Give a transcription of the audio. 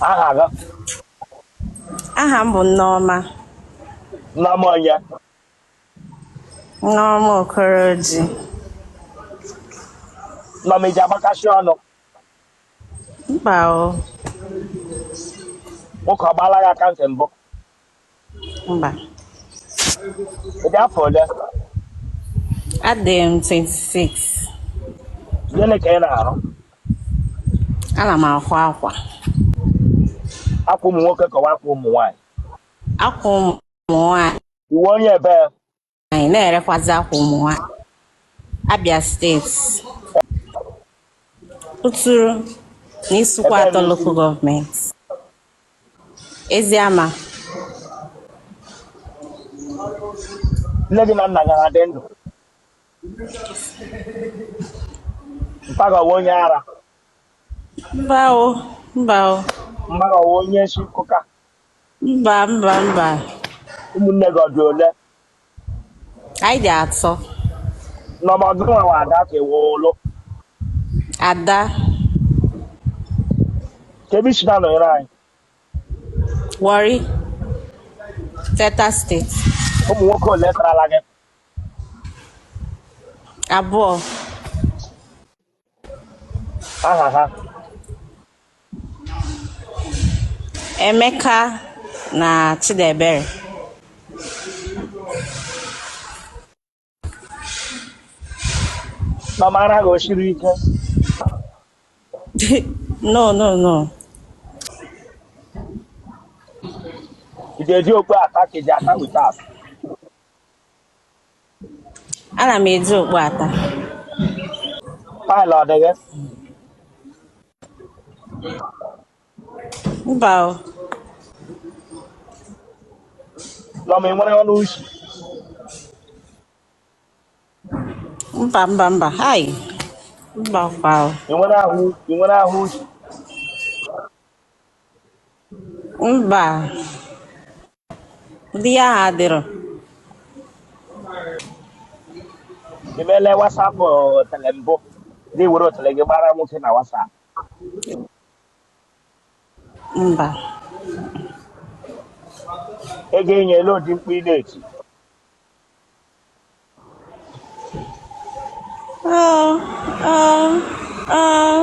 aha gị aha m bụ Nneọma nneọma onye Nneọma Okoroji nneọma ị ji agbakasị ọnụ mba o nwoke ọ gbaala gị aka ntị mbụ Mba. Ị dị afọ ole? Adị m 26. Gịnị ka ị na-arụ? Ana m akwa akwa. Akwa ụmụ nwoke ka ọ wụ akwa ụmụ nwaanyị. Akwa ụmụ nwaanyị. Ị wụ onye ebe? nwaanyị na-erekwazi akwa ụmụ nwaanyị Abia steeti Uturu na Isukwuatọ lokal gọọmenti Eziama nne gị na nna gị adị ndụ mpa gị ọ wụ onye ara mba o mba o mma gị ọ wụ onye isi nkụka Mba mba mba. Ụmụnne gị ọ dị ole? Anyị dị atọ. Nneọma gị nwa wụ ada ka ị wụ ụlụ. Ada. Kedu ebe i si na-anọnyere anyị? Warri. Delta steeti. Ụmụ nwoke ole karala gị? Abụọ. aha ha Emeka na Chidebere Nneọma ara gị o siri ike no no no ị ji eji okpu ata ka ị ji ata without Ana m eji okpu ata. Pile ọ dị gị? Mba o. Nneọma ị nwere ọnụ ushi? Mba mba mba. Hai. Mba kwa o. Ị nwere ahụ ị nwere ahụ ushi? Mba. Ndị ya ha adịrọ. I meela WhatsApp otele eh, mbụ gị were otele gị gbara nwoke na WhatsApp. Mba. Ego enye olee ụdị mkpu ị na-eti. Oh, oh, oh.